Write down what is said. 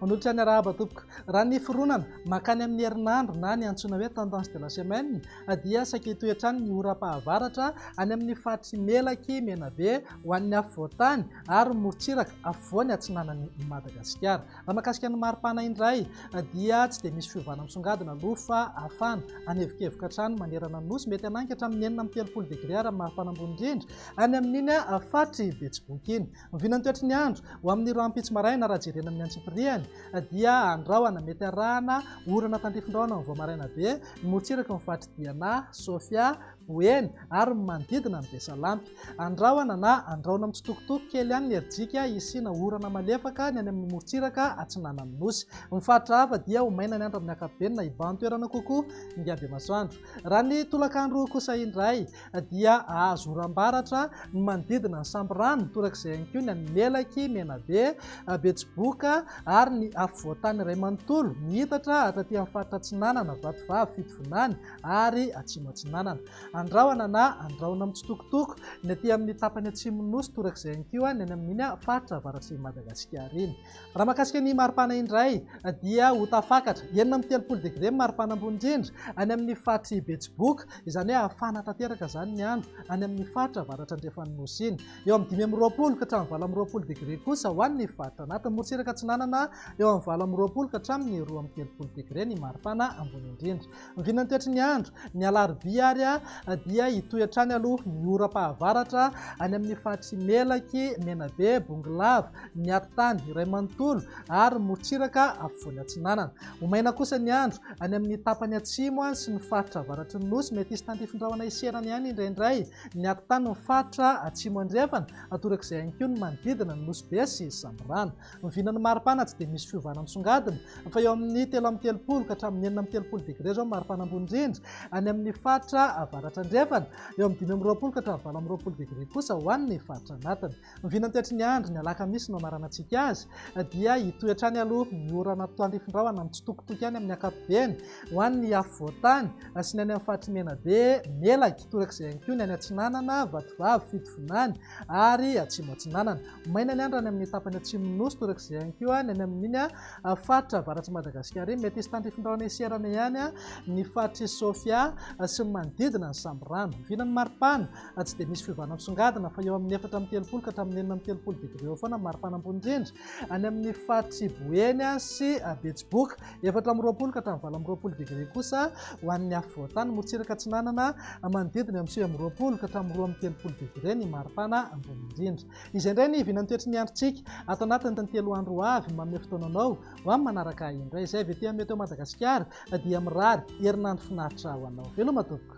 Manolotra ny arahaba tompoko. Raha ny fironana makany amin'ny herinandro na ny antsoina hoe tendance de la semaine dia saika hitohy hatrany ny oram-pahavaratra any amin'ny faritry Melaky, Menabe ho an'ny afovoan-tany ary morontsiraka afovoany atsinanan'i Madagasikara. Raha mahakasika ny maripana indray dia tsy dia misy fiovana misongadina aloha fa hafana. Hanevokevoka hatrany manerana ny nosy, mety hanangy hatramin'ny enina amby telopolo degre ary amin'ny maripana ambony indrindra any amin'iny faritry Betsiboka iny. Oviana ny toetry ny andro ho amin'ny rahampitso maraina raha jerena amin'ny antsipiriany dia andrahona mety arahana orana tandrifin-drahona amin'ny vao maraina be ny morontsirak'i Faritry Diana, Sofia, ho eny ary ny manodidina ny Besalampy. Andrahona na andraona mitsitokotoko kely ihany ny herijika hisiana orana malefaka ny any amin'ny morontsiraka atsinanan'ny Nosy. Ny faritra hafa dia ho maina ny andro amin'ny ankapobeny na hibahan-toerana kokoa ny habemasoandro. Raha ny tolakandro kosa indray dia hahazo oram-baratra ny manodidina ny Sambirano, torak'izay ihany koa ny any Melaky, Menabe, Betsiboka ary ny afovoan-tany iray manontolo mihitatra hatraty amin'ny faritra atsinanana, Vatovavy, Fitovinany, ary Atsimo Atsinanana. Andrahona na Andrahona mitsitokotoko ny aty amin'ny tapany atsimon'ny Nosy torak'izay ihany koa ny any amin'iny faritra avaratsinin'i Madagasikara iny. Raha mahakasika ny maripana indray dia ho tafakatra enina amby telopolo degre ny maripana ambony indrindra any amin'ny faritr'i Betsiboka, izany hoe hafana tanteraka izany ny andro any amin'ny faritra avaratra andrefan'ny Nosy iny. Eo amin'ny dimy amby roapolo ka hatramin'ny valo amby roapolo degre kosa ho an'ny faritra anaty morotsiraka atsinanana eo amin'ny valo amby roapolo ka hatramin'ny roa amby telopolo degre ny maripana ambony indrindra. Ny vinantiatry ny andro, ny alarobia ary dia hitohy hatrany aloha ny oram-pahavaratra any amin'ny faritry Melaky, Menabe, Bongolava, Miaritany iray manontolo ary Morontsiraka afovoany atsinanana. Ho maina kosa ny andro any amin'ny tapany atsimo sy ny faritra avaratry ny Nosy, mety hisy tantifindrahona hiserana ihany indraindray ny ati-tany ny faritra atsimo andrefana, torak'izay ihany koa ny manodidina ny Nosy Be sy Sambirano. Vina ny maripana tsy dia misy fiovana misongadina fa eo amin'ny telo amby telopolo ka hatramin'ny enina amby telopolo degre izao ny maripana ambony indrindra any amin'ny faritra avaratra andrefana, eo amin'ny dimy amby roapolo ka hatramin'ny valo amby roapolo degre kosa ho an'ny faritra anatiny. Ny vina an-toetry ny andro, ny alakamisy no hamaranantsika azy dia hitohy hatrany aloha ny orana mitoandrifin-drahona mitsitokotoko ihany amin'ny ankapobeny ho an'ny afovoan-tany sy ny any amin'ny faritry Menabe, Melaky, torak'izay ihany koa ny any Atsinanana, Vatovavy, Fitovinany ary Atsimo Atsinanana. Maina ny andro any amin'ny tapany atsimon'ny Nosy, torak'izay ihany koa ny any amin'iny faritra avaratr'i Madagasikara iny. Mety hisy tandrify ny rahona iserana ihany ny faritr'i Sofia sy ny manodidina ny sambirano. Vina ny maripana, tsy dia misy fiovana misongadina fa eo amin'ny efatra amby telopolo ka hatramin'ny enina amby telopolo degré eo foana ny maripana ambony indrindra any amin'ny faritr'i Boeny sy Betsiboka. Efatra amby roapolo ka hatramin'ny valo amby roapolo degré kosa ho an'ny afovoan-tany, morotsiraka atsinanana manodidina amin'ny sivy amby roapolo ka hatramin'ny roa amby telopolo degré ny maripana ambony indrindra. Izay indray ny hiviana ny toetry ny androntsika ato anatin'ny tontelo andro ho avy. Manome fotoana anao ho amin'ny manaraka ahy indray. Izay avy ety amin'ny Météo Madagasikara dia mirary herinandro finaritra ho anao. Veloma tompoko.